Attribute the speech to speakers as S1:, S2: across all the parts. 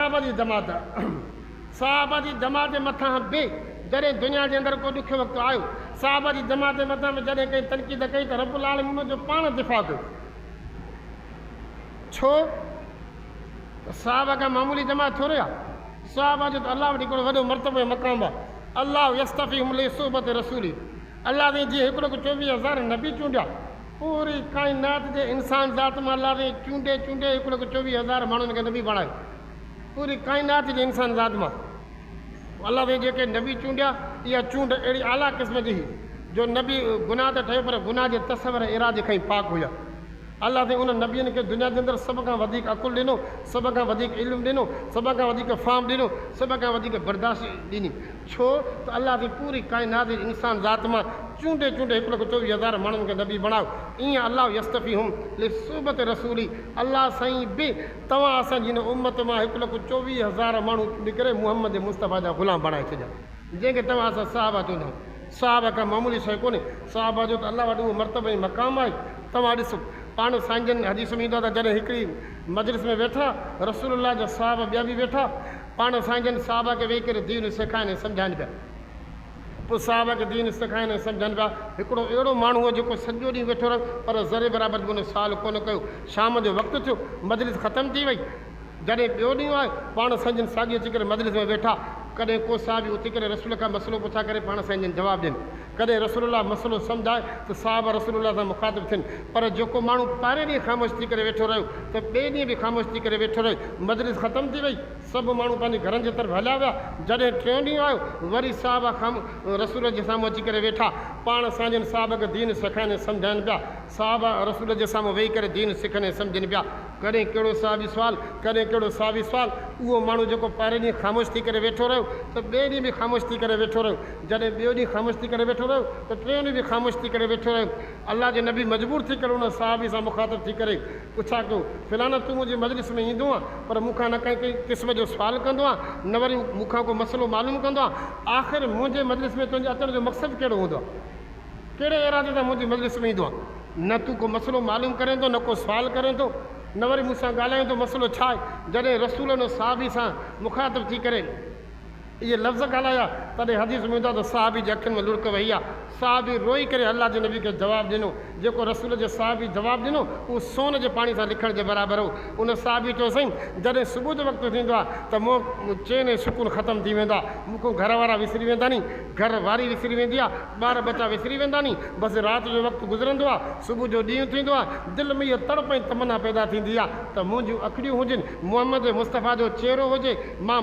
S1: صحابه جي جماعت، صحابه جي جماعت مٿان به جڏهن دنيا جي اندر ڪو ڏکيو وقت آيو، صحابه جي جماعت مٿان به جڏهن ڪنهن تنقيد ڪئي ته رب العالمين ان جو پاڻ دفاع ڪيو. ڇو ته صحابه ڪا معمولي جماعت ٿوري آهي. صحابه جو ته الله وٽ هڪڙو وڏو مرتبو ۽ مقام آهي. الله يصطفيهم لصحبة رسوله الله سائين جيئن هڪڙو ڪو چوويهه هزار نبي چونڊيا. پوري ڪائنات جي انسان ذات مان الله سائين چونڊي چونڊي هڪ لک چوويهه هزار ماڻهن کي نبي بڻايو پوري ڪائنات جي انسان ذات مان الله سائين جيڪي نبي چونڊيا اها چونڊ اهڙي اعليٰ قسم جي هئي جو نبي گناهه ته ٺهي پر گناهه جي تصور ۽ ارادي کان ئي پاڪ هيا الله سائين انهن نبين کي دنيا جي اندر سڀ کان وڌيڪ عقل ڏنو سڀ کان وڌيڪ علم ڏنو سڀ کان وڌيڪ فهم ڏنو سڀ کان وڌيڪ برداشت ڏني ڇو ته الله جي پوري ڪائنات جي انسان ذات مان چونڊي چونڊي هڪ لک چوويهه هزار ماڻهن کي نبي بڻايو ايئن الله يستفيهم لصحبت رسولي الله سائين به توهان اسان جي هن امت مان هڪ لک چوويهه هزار ماڻهو چونڊي ڪري محمد مصطفيٰ جا غلام بڻائي ڇڏيا جنهن کي توهان اسان صحابه چوندا آهيون صحابه ڪا معمولي شيء ڪونهي صحابه جو ته الله وٽ اهو مرتبو ۽ مقام آهي توهان ڏسو پاڻ سائين جن حديث ۾ ايندو آهي ته جڏهن هڪڙي مجلس ۾ ويٺا رسول الله جا صحابه ٻيا به ويٺا پاڻ سائين جن صحابه کي ويهي ڪري دين سيکائن ۽ سمجهائن پيا. پوء صحابه کي دين سيکائن ۽ سمجهن پيا. هڪڙو اهڙو ماڻهو هو جيڪو سڄو ڏينهن ويٺو رهيو پر ذري برابر به ڪنهن سوال ڪونه ڪيو. شام جو وقت ٿيو، مجلس ختم ٿي وئي. جڏهن ٻيو ڏينهن آيو، پاڻ سائين جن ساڳي اچي ڪري مجلس ۾ ويٺا. ڪڏهن ڪو صحابي اٿي ڪري رسول کان مسئلو پڇا ڪري پاڻ سائين جن جواب ڏين. ڪڏهن رسول الله مسئلو سمجهائي ته صحابه رسول الله سان مخاطب ٿين پر جيڪو ماڻهو پهرين ڏينهن خاموش ٿي ڪري ويٺو رهيو ته ٻئي ڏينهن به خاموش ٿي ڪري ويٺو رهي مجلس ختم ٿي وئي سڀ ماڻهو پنهنجي گهرن جي طرف هليا ويا جڏهن ٽيون ڏينهن آيو وري صحابه خام رسول جي سامهون اچي ڪري ويٺا پاڻ سانجهن صحابه کي دين سکائين ۽ سمجهائين پيا صحابه رسول جي سامهون ويهي ڪري دين سکن ۽ سمجهن پيا ڪڏهن ڪهڙو صحابي سوال، ڪڏهن ڪهڙو صحابي سوال، اهو ماڻهو جيڪو پهرئين ڏينهن خاموش ٿي ڪري ويٺو رهيو ته ٻئي ڏينهن به خاموش ٿي ڪري ويٺو رهيو، جڏهن ٻيو ڏينهن خاموش ٿي ڪري ويٺو رهيو ته ٽيون ڏينهن به خاموش ٿي ڪري ويٺو رهيو. الله جي نبي مجبور ٿي ڪري ان صحابي سان مخاطب ٿي ڪري پڇا ڪيو، فلاڻو تون منهنجي مجلس ۾ ايندو آن پر مون کان نه ڪنهن ڪنهن قسم جو سوال ڪندو آن نه وري مون کان ڪو مسئلو معلوم ڪندو آن، آخر منهنجي مجلس ۾ تنهنجي اچڻ جو مقصد ڪهڙو هوندو آ؟ ڪهڙي ارادي سان منهنجي مجلس ۾ ايندو آهي؟ نه تون ڪو مسئلو معلوم ڪرين ٿو، نه ڪو سوال ڪرين ٿو، نه وري مون سان ڳالهائين ٿو، مسئلو ڇا آهي؟ جڏهن رسولن ۽ صحابي سان مخاطب ٿي ڪري اهي لفظ ڳالهايا، تڏهن حديث ۾ ايندو آهي ته صحابي جي اکين ۾ لڙڪ وهي ها، صحابي روئي ڪري الله جي نبي کي جواب ڏنو، جيڪو رسول جي صحابي جواب ڏنو، اهو سون جي پاڻي سان لکڻ جي برابر هو، ان صحابي چيو سائين! جڏهن صبح جو وقت ٿيندو آهي ته منهن ۾ چين ۽ سڪون ختم ٿي ويندو آهي، مون کان گهر وارا وسري ويندا ني، گهر واري وسري ويندي آ، ٻار ٻچا وسري ويندا ني، بس رات جو وقت گذرندو آ، صبح جو ڏينهن ٿيندو آ، دل ۾ اها تڙپ ۽ تمنا پيدا ٿيندي آ ته منهنجون اکڙيون هجن، محمد مصطفيٰ جو چهرو هجي، مان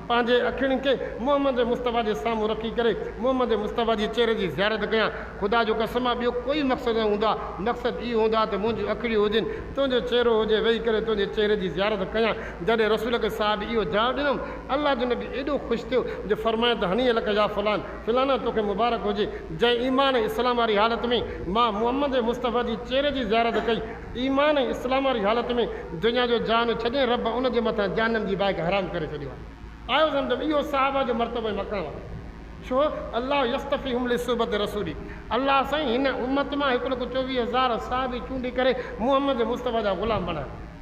S1: پنهنجي اکڙين کي محمد مصطفيٰ جي سامهون رکي ڪري محمد مصطفيٰ جي چهري جي زيارت ڪيان، خدا جو قسم آ ٻيو ڪوئي مقصد نه هوندو آ، مقصد اهو هوندو آ ته منهنجون اکڙيون هجن، تنهنجو چهرو هجي، ويهي ڪري تنهنجي چهري جي زيارت ڪيان، جڏهن رسول ڪي صاحب اهو جواب ڏنم. الله جو نبي ايڏو خوش ٿيو جو فرمايائين ته هنيئه لڪ يا فلان، فلاڻا توکي مبارڪ هجي، جنهن ايمان ۽ اسلام واري حالت ۾ مان محمد مصطفيٰ جي چهري جي زيارت ڪئي، ايمان ۽ اسلام واري حالت ۾ دنيا جو جهان ڇڏين رب ان جي مٿان جهنم جي باهه کي حرام ڪري ڇڏيو آهي. آيو سمجهه ۾ اهو صحابه جو مرتبو ۽ مقام آهي. ڇو؟ الله يصطفيهم لصحبة رسوله الله سائين هن امت مان هڪ لک چوويهه هزار صحابي چونڊي ڪري محمد مصطفيٰ جا غلام بڻايا.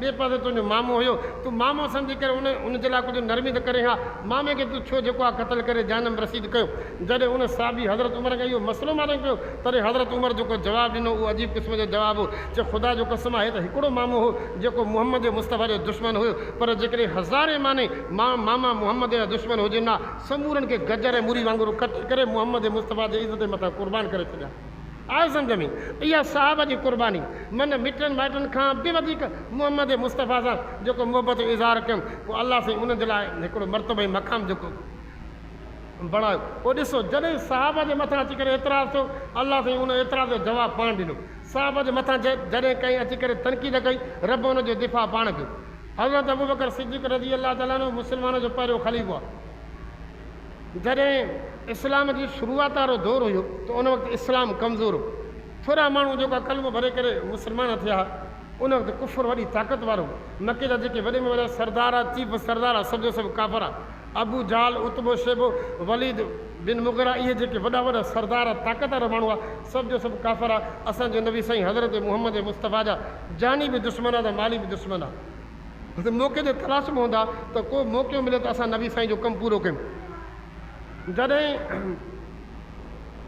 S1: ٻئي پاسي تنهنجو مامو هيو، تون مامو سمجهي ڪري ان ان جي لاء ڪجهه نرمي ته ڪرين ها، مامي کي تون ڇو جيڪو آهي قتل ڪري جهنم رسيد ڪيو. جڏهن ان صحابي حضرت عمر کان اهو مسئلو معنيٰ ڪيو، تڏهن حضرت عمر جيڪو جواب ڏنو، اهو عجيب قسم جو جواب هو، چيو، خدا جو قسم آهي ته هڪڙو مامو هو، جيڪو محمد مصطفيٰ جو دشمن هيو، پر جيڪڏهن هزارين معني ماما محمد جا دشمن هجن ها، سمورن کي گجر ۽ مري وانگر قتل ڪري محمد مصطفيٰ جي عزت جي مٿان قربان ڪري ڇڏيان ها. آء سمجهه ۾ اها صاحب جي قرباني من مٽن مائٽن کان به وڌيڪ محمد مصطفيٰ سان جيڪو محبت جو اظهار ڪيم پوء الله سائين انهن جي لاء هڪڙو مرتبو ۽ مقام جيڪو بڻايو پوء ڏسو جڏهن صاحب جي مٿان اچي ڪري اعتراض ٿيو الله سائين ان اعتراض جو جواب پاڻ ڏنو صاحب جي مٿان جڏهن ڪنهن اچي ڪري تنقيد ڪئي رب ان جو دفاع پاڻ ڪيو حضرت ابوبڪر صديق رضي الله تعالٰي عنه مسلمانن جو پهريون خليفو آهي. جڏهن اسلام جي شروعات وارو دور هيو ته ان وقت اسلام ڪمزور هو. ٿورا ماڻهو جيڪا ڪلمو ڀري ڪري مسلمان ٿيا ها، ان وقت ڪفر وڏي طاقت وارو هو. مڪي جا جيڪي وڏي ۾ وڏا سردار ها، چيف سردار ها، سڀ جو سڀ ڪافر ها. ابو جهل، عتبو شيبو، وليد بن مغيره اهي جيڪي وڏا وڏا سردار ها، طاقت وارا ماڻهو ها، سڀ جو سڀ ڪافر ها. اسان جي نبي سائين حضرت محمد مصطفيٰ جا جاني به دشمن ها ته مالي به دشمن ها. اسين موقعي جي تلاش ۾ هوندا ته ڪو موقعو ملي ته اسان نبي سائين جو ڪم پورو ڪيون. جڏهن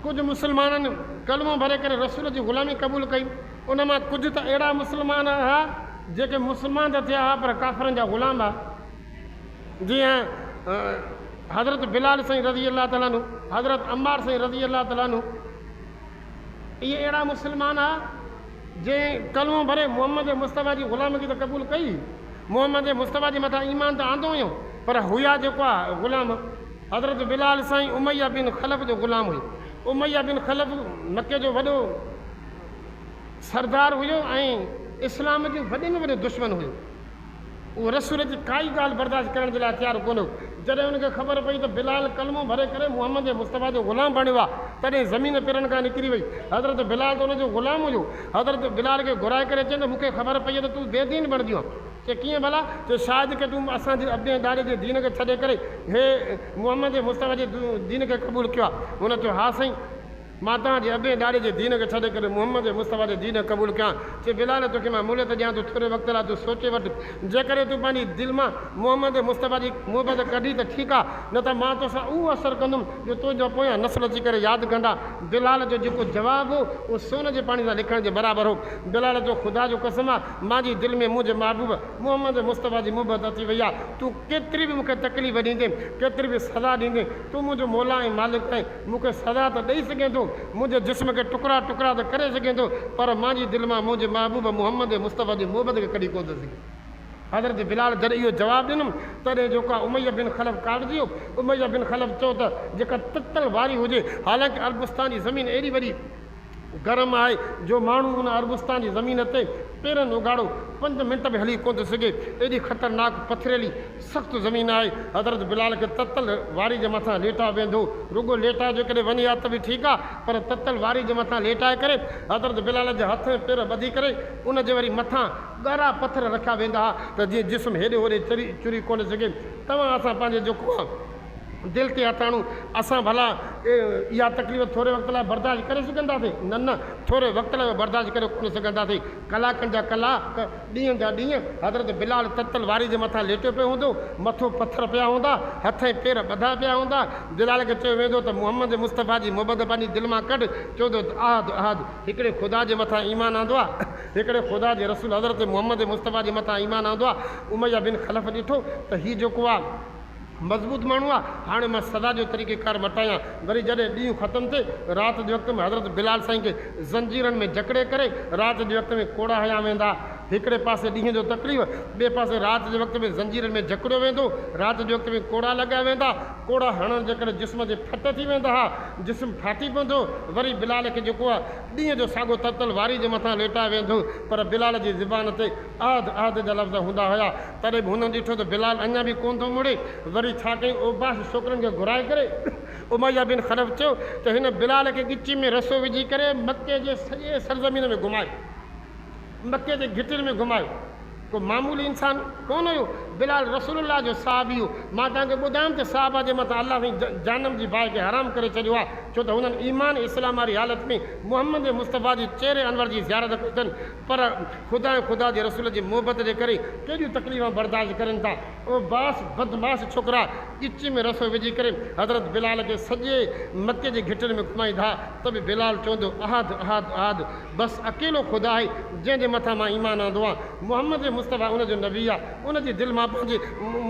S1: ڪجهه مسلمانن ڪلمو ڀري ڪري رسول جي غلامي قبول ڪئي ان مان ڪجهه ته اهڙا مسلمان ها جيڪي مسلمان ته ٿيا ها پر ڪافرن جا غلام ها جيئن حضرت بلال سائين رضي الله تعالٰي عنه، حضرت عمار سائين رضي الله تعالٰي عنه. اهي اهڙا مسلمان ها، جنهن ڪلمو ڀري محمد مصطفيٰ جي غلامگي ته قبول ڪئي، محمد مصطفيٰ جي مٿان ايمان ته آندو هيو، پر هيا جيڪو ها غلام ها. حضرت بلال سائين اميه بن خلف جو غلام هيو. اميه بن خلف مڪي جو وڏو سردار هيو ۽ اسلام جو وڏي ۾ وڏو دشمن هيو. هو رسول جي ڪائي ڳالهه برداشت ڪرڻ جي لاء تيار ڪونه هو. جڏهن هن کي خبر پئي ته بلال ڪلمو ڀري ڪري محمد مصطفيٰ جو غلام بڻيو آهي، تڏهن زمين پيرن کان نڪري وئي. حضرت بلال ته ان جو غلام هيو. حضرت بلال کي گهرائي ڪري چيائين ته مون کي خبر پئي آهي ته تون بي دين بڻجيو آهين. چي ڪيئن ڀلا؟ چي شايد ڪي تون اسان جي ابي ۽ ڏاڏي جي دين کي ڇڏي ڪري هي محمد مصطفيٰ جي دين کي قبول ڪيو آهي. هن چيو ها سائين! مان توهان جي ابين ڏاڏي جي دين کي ڇڏي ڪري محمد مصطفيٰ جي دين کي قبول ڪيان ٿي. بلال! توکي مان مهلت ڏيان ٿو ٿوري وقت لاء تون سوچي وٺ. جيڪڏهن تون پنهنجي دل مان محمد مصطفيٰ جي محبت ڪڍي ته ٺيڪ آ نه ته مان توسان اهو اثر ڪندم جو تنهنجا پويان نسل اچي ڪري ياد ڪندا. بلال جو جيڪو جواب هو اهو سون جي پاڻي سان لکڻ جي برابر هو. بلال چيو خدا جو قسم آ مانجي دل ۾ منهنجي محبوب محمد مصطفيٰ جي محبت اچي وئي آ. تون ڪيتري به مونکي تڪليف ڏيندين ڪيتري به سزا ڏيندين تون منهنجو مولا ۽ مالڪ آهين. مون کي سزا ته ڏئي سگهين ٿو، منهنجي جسم کي ٽڪرا ٽڪرا ته ڪري سگهين ٿو، پر مان جي دل مان منهنجي محبوب محمد مصطفيٰ جي محبت کي ڪڍي ڪونه ٿو سگهين. حضرت بلال جڏهن اهو جواب ڏنم، تڏهن جو ڪا اميه بن خلف ڪاٽجي ويو. اميه بن خلف چيو ته جيڪا تتل واري هجي، حالانڪ عربستان جي زمين ايڏي وڏي، گرم آهي جو ماڻهو ان عربستان جي زمين تي پيرن اگهاڙو پنج منٽ به هلي ڪونه ٿو سگهي، ايڏي خطرناڪ پٿريلي سخت زمين آهي، حضرت بلال کي تتل واري جي مٿان ليٽايو ويندو، رڳو ليٽايو جو ڪڏهن وڃي ها ته به ٺيڪ آ پر تتل واري جي مٿان ليٽائي ڪري حضرت بلال جا هٿ ۽ پير ٻڌي ڪري ان جي وري مٿان ڳرا پٿر رکيا ويندا ها ته جيئن جسم هيڏي هوڏي چري چري ڪونه سگهي، توهان اسان پنهنجي جيڪو آ. دل تي هٿاڻو، اسان ڀلا اها تڪليف ٿوري وقت لاء برداشت ڪري سگهنداسين؟ نه نه، ٿوري وقت لاء به برداشت ڪري ڪونه سگهنداسين. ڪلاڪن جا ڪلاڪ، ڏينهن جا ڏينهن حضرت بلال تتل واري جي مٿان ليٽيو پيو هوندو. مٿو پٿر پيا هوندا، هٿ ۽ پير ٻڌا پيا هوندا. بلال کي چيو ويندو ته محمد مصطفيٰ جي محبت پنهنجي دل مان ڪڍ. چوندو ته احد احد، هڪڙي خدا جي مٿان ايمان آندو آ، هڪڙي خدا جي رسول حضرت محمد مصطفيٰ جي مٿان ايمان آندو آ. اميه بن خلف ڏٺو ته هي جيڪو آ، مضبوط ماڻهو آ هاڻي مان سزا جو طريقي ڪار مٽايان وري جڏهن ڏينهن ختم ٿئي رات جي وقت ۾ حضرت بلال سائين کي زنجيرن ۾ جڪڙي ڪري رات جي وقت ۾ ڪوڙا هنيا ويندا هڪڙي پاسي ڏينهن جو تڪليف ٻئي پاسي رات جي وقت ۾ زنجيرن ۾ جڪڙيو ويندو رات جي وقت ۾ ڪوڙا لڳايا ويندا ڪوڙا هڻڻ جي ڪري جسم جي ڦٽ ٿي ويندا ها جسم ڦاٽي پوندو وري بلال کي جيڪو آ ڏينهن جو ساڳو تتل واري جي مٿان ليٽايو ويندو پر بلال جي زبان تي احد احد جا لفظ هوندا هيا تڏهن به هن ڏٺو ته بلال اڃا به ڪونه ٿو مڙي، وري ڇا ڪيائين اوباش ڇوڪرن کي گهرائي ڪري اميه بن خلف چيو ته هن بلال کي ڳچي ۾ رسو وجهي ڪري مڪي جي سڄي سرزمين ۾ گهمايو، مڪي جي گهٽين ۾ گهمايو، ڪو معمولي انسان ڪونه هيو، بلال رسول الله جو صحابي هو، مان توهان کي ٻڌايم ته صحابه جي مٿان الله سائين جهنم جي باهه کي حرام ڪري ڇڏيو آهي، ڇو ته هنن ايمان ۽ اسلام واري حالت ۾ محمد مصطفيٰ جي چهري انور جي زيارت ڪئي اٿن، پر خدا ۽ خدا جي رسول جي محبت جي ڪري ڪيڏيون تڪليفون برداشت ڪرين ٿا اهي باس بدمعاش ڇوڪرا ڳچيء ۾ رسو وجهي ڪري حضرت بلال کي سڄي مڪي جي گهٽين ۾ گهمائين ٿا ته به بلال چوندو احد احد احد بس اڪيلو خدا آهي جنهن جي مٿان مان ايمان آندو آهيان محمد مصطفيٰ ان جو نبي آهي ان جي دل مان پنهنجي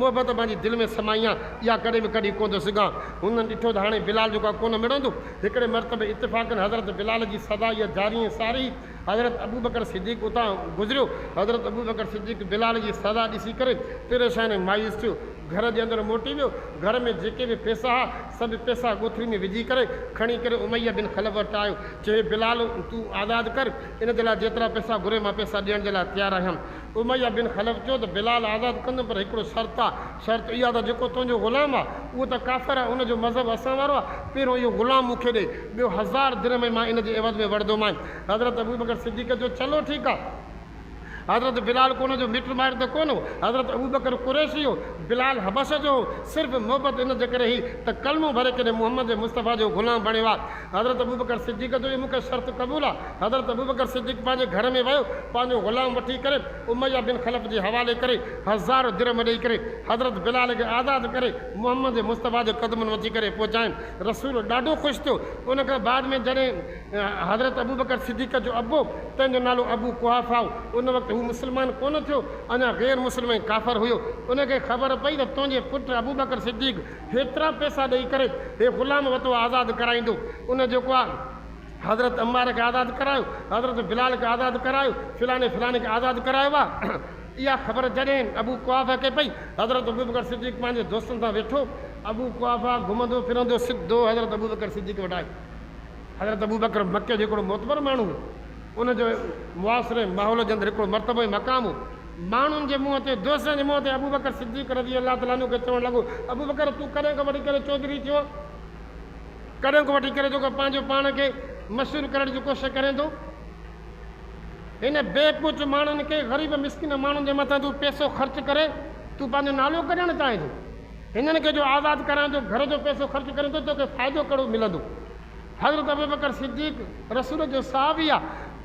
S1: محبت پنهنجي دل ۾ سمائي آهيان اها ڪڏهن به ڪڍي ڪونه ٿو سگهان هنن ڏٺو ته هاڻي بلال جوڳا ڪونه مڙندو هڪڙي مرتبي اتفاقن حضرت بلال جي سدا اها جاري ۽ ساري حضرت ابوبڪر صديق اتان گذريو. حضرت ابوبڪر صديق بلال جي سزا ڏسي ڪري پريشان ۽ مايوس ٿيو. گهر جي اندر موٽي ويو. گهر ۾ جيڪي به پئسا ها، سڀ پئسا ڳوٿري ۾ وجهي ڪري کڻي ڪري اميه بن خلف وٽ آيو. چيو، بلال تون آزاد ڪر، ان جي لاء جيترا پئسا گهرين مان پئسا ڏيڻ جي لاء تيار آهيان. اميه بن خلف چيو ته بلال آزاد ڪندم پر هڪڙو شرط آ. شرط اها ته جيڪو تنهنجو غلام آ، اهو ته ڪافر آ، ان جو مذهب اسان وارو آ، پهريون اهو غلام مون کي ڏي، ٻيو هزار درهم ۽ مان ان جي عيوض ۾ وڙهندومانء. حضرت ابوبڪر صديق چيو، چلو ٺيڪ آ. حضرت بلال ڪو ان جو مٽ مائٽ ته ڪونه هو. حضرت ابوبڪر قريشي هو، بلال حبشه جو هو، صرف محبت ان جي ڪري هئي ته ڪلمو ڀري ڪڏهن محمد مصطفيٰ جو غلام بڻيو آ. حضرت ابوبڪر صديق جو اهي مون کي شرط قبول آ. حضرت ابوبڪر صديق پنهنجي گهر ۾ ويو، پنهنجو غلام وٺي ڪري اميه بن خلف جي حوالي ڪري، هزار درهم ڏئي ڪري، حضرت بلال کي آزاد ڪري، محمد مصطفيٰ جي قدمن وچي ڪري پهچاين. رسول ڏاڍو خوش ٿيو. ان کان بعد ۾ جڏهن حضرت ابوبڪر صديق جو ابو، تنهن جو نالو ابو قحافه هو، ان وقت هو مسلمان ڪونه ٿيو، اڃا غير مسلم ۽ ڪافر هيو، ان کي خبر پئي ته تنهنجي پٽ ابوبڪر صديق، هيترا پئسا ڏئي ڪري هي غلام وتو آزاد ڪرائيندو. ان جيڪو آ حضرت عمار کي آزاد ڪرايو، حضرت بلال کي آزاد ڪرايو، فلاني فلاني کي آزاد ڪرايو آ. اها خبر جڏهن ابو قحافه کي پئي، حضرت ابوبڪر صديق پنهنجي دوستن سان ويٺو. ابو قحافه گهمندو ڦرندو سڌو حضرت ابوبڪر صديق وٽ آيو. حضرت ابوبڪر مڪي جو هڪڙو معتبر ماڻهو هو. ان جو معاشري، ماحول جي اندر هڪڙو مرتبو ۽ مقام هو. ماڻهن جي منهن تي، دوستن جي منهن تي ابوبڪر صديق رضي الله تعالٰي عنه کي چوڻ لڳو، ابوبڪر! تون ڪڏهن کان وٺي ڪري چوڌري ٿيو؟ ڪڏهن کان وٺي ڪري تون پنهنجو پاڻ کي مشهور ڪرڻ جي ڪوشش ڪرين ٿو؟ هن بي پهچ ماڻهن کي غريب مسڪين ماڻهن جي مٿان تون پئسو خرچ ڪري تون پنهنجو نالو ڪڍڻ چاهين ٿو؟ هنن کي جو آزاد ڪرائين ٿو، گهر جو پئسو خرچ ڪرين ٿو، توکي فائدو ڪهڙو ملندو؟ حضرت ابوبڪر صديق رسول جو صحابي آ،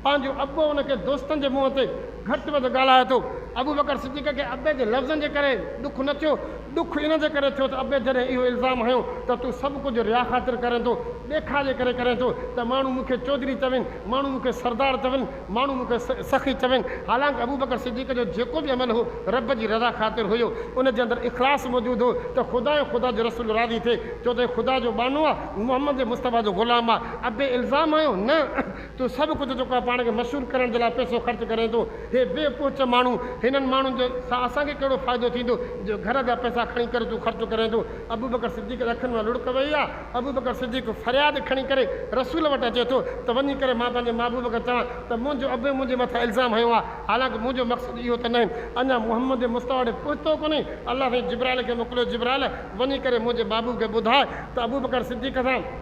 S1: پنهنجو ابو ان کي دوستن جي منهن تي گهٽ وڌ ڳالهائي ٿو. ابوبڪر صديق کي ابي جي لفظن جي ڪري ڏک نه ٿيو، ڏک ان جي ڪري ٿيو ته ابي جڏهن اهو الزام هنيو ته تون سڀ ڪجهه ريا خاطر ڪرين ٿو، ڏيکاء جي ڪري ڪرين ٿو ته ماڻهو مون کي چوڌري چون، ماڻهو مون کي سردار چون، ماڻهو مون کي سخي چون، حالانڪ ابوبڪر صديق جو جيڪو به عمل هو، رب جي رضا خاطر هيو، ان جي اندر اخلاص موجود هو ته خدا ۽ خدا جو رسول راضي ٿئي، ڇو ته هي خدا جو ٻانهو آ، محمد مصطفيٰ جو غلام آ، ابي الزام آهيو، نه، تون سڀ ڪجهه جيڪو آ پاڻ کي مشهور ڪرڻ جي لاء پئسو خرچ ڪرين ٿو، هي بي پهچ ماڻهو، هنن ماڻهن جي سان اسان کي ڪهڙو فائدو ٿيندو، جو گهر جا پئسا کڻي ڪري تون خرچ ڪرين ٿو، ابوبڪر صديق جي اکين مان لڙڪ وهي آ. ابوبڪر صديق فرياد کڻي ڪري رسول وٽ اچي ٿو ته وڃي ڪري مان پنهنجي محبوب کي چوان ته منهنجو ابي منهنجي مٿان الزام هنيو آهي حالانڪه منهنجو مقصد اهو ته ناهي اڃا محمد مصطفيٰ وٽ پهتو ڪونهي الله سائين جبرائيل کي موڪليو جبرائيل وڃي ڪري منهنجي محبوب کي ٻڌاء ته ابوبڪر صديق سان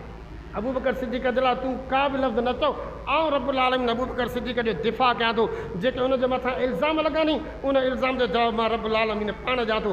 S1: ابوبڪر صديق جي لاء تون ڪا به لفظ نه چئو آئون رب العالمين ابوبڪر صديق جو دفاع ڪيان ٿو جيڪي ان جي مٿان الزام لڳا ني ان الزام جو جواب مان رب العالمين پاڻ ڏيان ٿو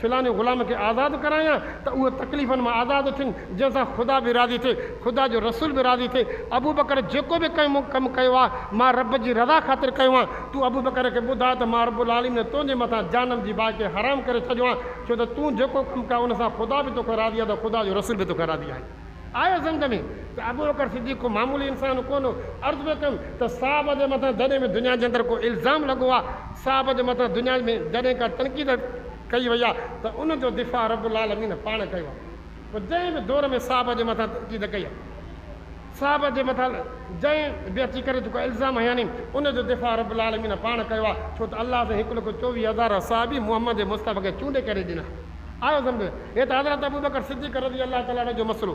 S1: فلاني غلام کي آزاد ڪرايان ته اهو تڪليفن مان آزاد ٿين، جنهن سان خدا به راضي ٿئي، خدا جو رسول به راضي ٿئي. ابوبڪر جيڪو به ڪنهن مون ڪم ڪيو آهي، مان رب جي رضا خاطر ڪيو آهي. تون ابوبڪر کي ٻڌاء ته مان رب العالمين تنهنجي مٿان جهنم جي باهه کي حرام ڪري ڇڏيو آهي، ڇو ته تون جيڪو ڪم ڪيو آهي، ان سان خدا به توکان راضي آهي ته خدا جو رسول به توکان راضي آهي. آهي سمجهه ۾ ته ابوبڪر صديق ڪو معمولي انسان ڪونه هو. عرض پيو ڪيم ته صحابه جي مٿان جڏهن به دنيا جي اندر ڪو الزام لڳو آ، صحابه جي مٿان دنيا ۾ جڏهن ڪا تنقيد ڪئي وئي آ ته ان جو دفاع رب العالمين پاڻ ڪيو آ. پوء جنهن به دور ۾ صحابه جي مٿان تنقيد ڪئي آ، صحابه جي مٿان جنهن به اچي ڪري جيڪو الزام هنيائين ان جو دفاع رب العالمين پاڻ ڪيو آ، ڇو ته الله سائين هڪ لک چوويهه هزار صحابي محمد مصطفيٰ کي چونڊي ڪري ڏنا. آيو سمجهه هيٺ حضرت ابوبڪر صديق رضي الله تعالٰي عنه جو مسئلو.